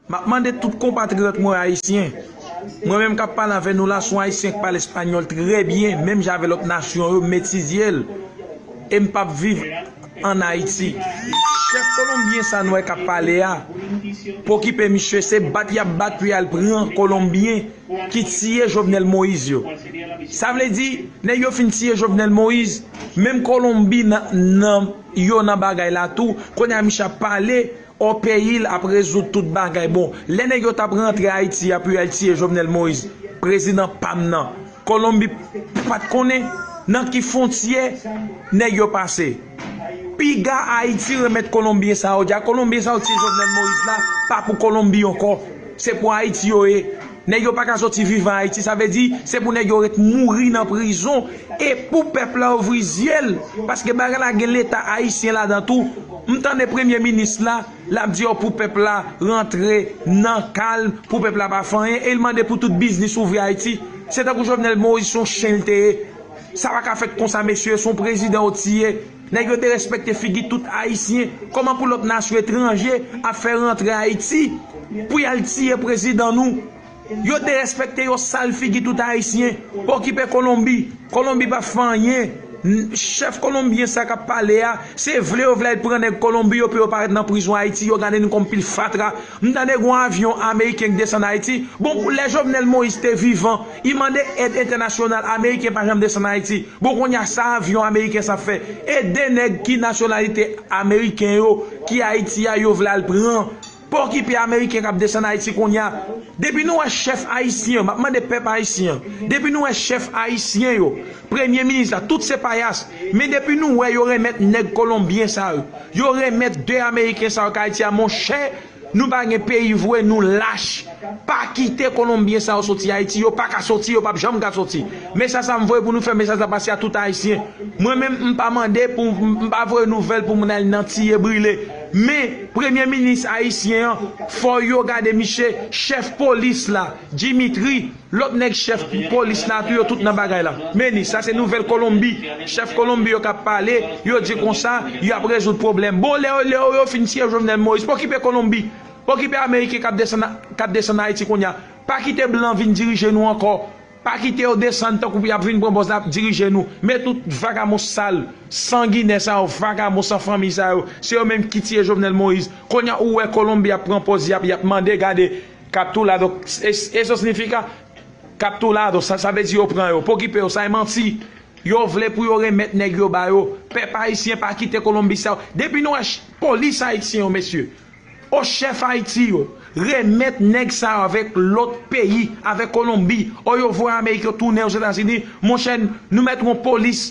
M ap mande tout konpatriyòt mwen ayisyen, mwen menm k ap pale avè nou la s on ayisyen k pale espanyòl trè byen menm jan avè lòt nasyon yo m etidye l e m p ap viv ann Ayiti. Chèf kolonbyen sa n wè k ap pale a p okipe misye se bat y ap bat pou y al pran kolonbyen ki tiye Jovenel Moïse yo. Sa vle di nèg yo fin tiye Jovenel Moïse menm kolonbyen yo nan bagay la tou kounye a misye ap pale Ohh peyil ap rezoud tout bagay bon lè nèg yo tap rantre ayiti a pu al tiye jovenel moise prezidan pam nan kolonbi pat konnen nan ki fontyè nèg yo pase piga ayiti remèt kolonbyen sa yo di a kolonbyen sa yo tiye jovenel moise la pa pou kolonbi ankò se pou ayiti yo ye. Nèg yo paka soti vivan ayiti sa vle di se pou nèg yo ret mouri nan prizon e pou pèp la ouvri zyel paske bagay la gen leta ayisyen ladan tou m tande premye minis la lap di yo pou pèp la rantre nan kalm pou pèp la pa fè anyen e l mande pou tout biznis ouvri ayiti se tankou jovenel moise son chen l te ye sa paka fèt konsa mesye son prezidan yo tiye Nèg yo derespekte figi tout ayisyen, kòman pou lòt nasyon etranje ap fè rantre ayiti pou yal tiye prezidan nou, yo derespekte yo sal figi tout ayisyen, okipe kolonbi, kolonbi pap fè anyen, chèf kolonbyen sa kap pale a se vle yo vle al pran nèg kolonbi yo pou yo pa ret nan prizon ayiti yo gade nou kòm pil fatra. M tande gon avyon ameriken k desann ayiti bon pou lè jovenel moïse te vivan i mande èd entènasyonal ameriken pa janm desann ayiti bon konnya sa avyon ameriken sa fè e 2 nèg ki nasyonalite ameriken yo ki ayiti a yo vle al pran pa okipe ameriken kap desann ayiti konnya depi nou wè chèf ayisyen yo map mande pèp ayisyen an depi nou wè chèf ayisyen yo premye minis la tout se payas men depi nou wè yo renmèt nèg kolonbyen sa yo Yo remet 2 ameriken sa yo ka ayiti a monchè nou pa gen peyi vwe nou lach pa kite kolonbyen sa yo soti ayiti yo paka soti yo pap janm ka soti mesaj sa m voye pou nou fè mesaj la pase a tout ayisyen mwen menm m pa mande pou m pa voye nouvèl pou moun al nan tiye brile men premye minis ayisyen an fò yo gade miche chèf polis la dimitri Lòt nèg chèf polis la tou yo tout nan bagay la. Meni, sa se nouvèl Kolonbi. Chèf Kolonbi yo kap pale, yo di konsa, yo ap rezoud pwoblèm. Bon, lè yo lè yo fin tiye Jovenel Moïse, pa okipe Kolonbi. Pa okipe Ameriken kap desann kap desann Ayiti kounya. Pa kite blan vin dirije nou ankò. Pa kite yo desann tankou yap vin pran pòz la ap dirije nou. Men tout vagabon sal, sanginè sa yo, vagabon san fanmiy sa yo, se yo menm ki tiye Jovenel Moïse. Kounya ou wè Kolonbi ap pran pòz yap yap mande gade. Kaptou la donk e son signifika kaptou la donk sa vle di yo pran yo pokipe yo sa e manti yo vle pou yo remet neg yo ba yo pep ayisyen pa kite colombie sa yo depi nou wè polis ayisyen yo mesye o chef ayiti yo remet neg sa yo avek lot peyi avek colombie o yo voye amerik yo tounen ozetazini monchè nou met yon polis